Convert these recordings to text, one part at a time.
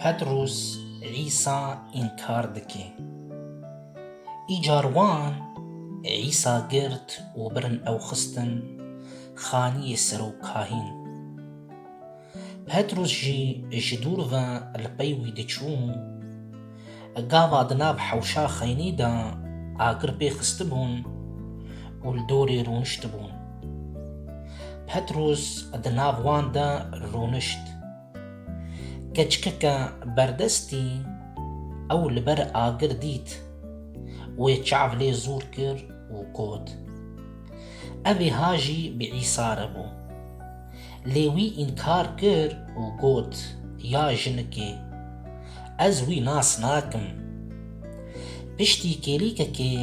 Petrûs Îsa înkar dike. Îcar wan Îsa girt û birin ew xistin xaniyê serokahîn. Petrûs jî ji dûr ve li pey wî diçû. Gava di nav hewşa xeynî de agir pê xistibûn û li dorê rûniştibûn. Petrûs di nav wan de rûnişt. Keçikeke berdestî ew li ber agir dît. Wê çav lê zûr kir û got, Evê ha jî bi Îsa re bû. Lê wî înkar kir û got, Ya jinikê, ez wî nas nakim. Piştî kêlîkekê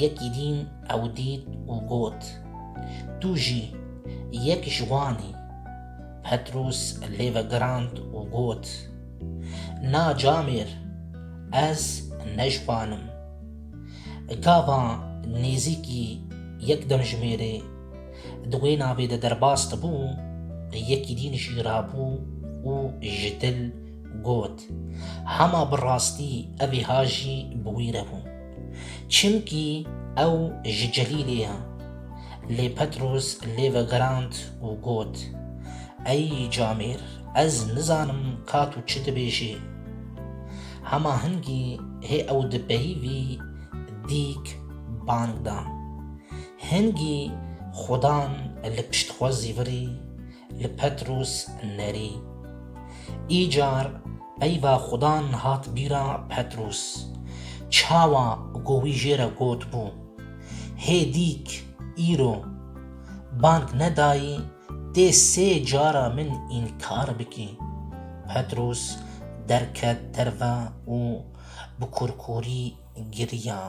yekî dîn ew dît û got, Tu jî yek ji wan î. Petros lê vegirand û got, Na camêr, ez ne ji wan im. Gava nêzîkî yek demjimêrê, Di wê navê de derbas dibû, yekî dîn jî rabû û ji dil got, Hema bi rastî evîha jî bi wî re bû. Çimkî ew ji Celîlê ye. Lê Petros lê vegerand û got, Ey camêr, ez nizanim ka tu çi dibêjî. Hema hingî hê ew di peyivî dîk bang da. Hingî xudan li pişt xwe zîvirî li Petrûs nerî. Îcar peyva xudan hat bîra Petrûs. Çawa ku wî jê re gotbû, Hê dîk îro bang nedayî tê sê cara min înkar bikî. Petrûs derket derve û bi kurkurî giriyan.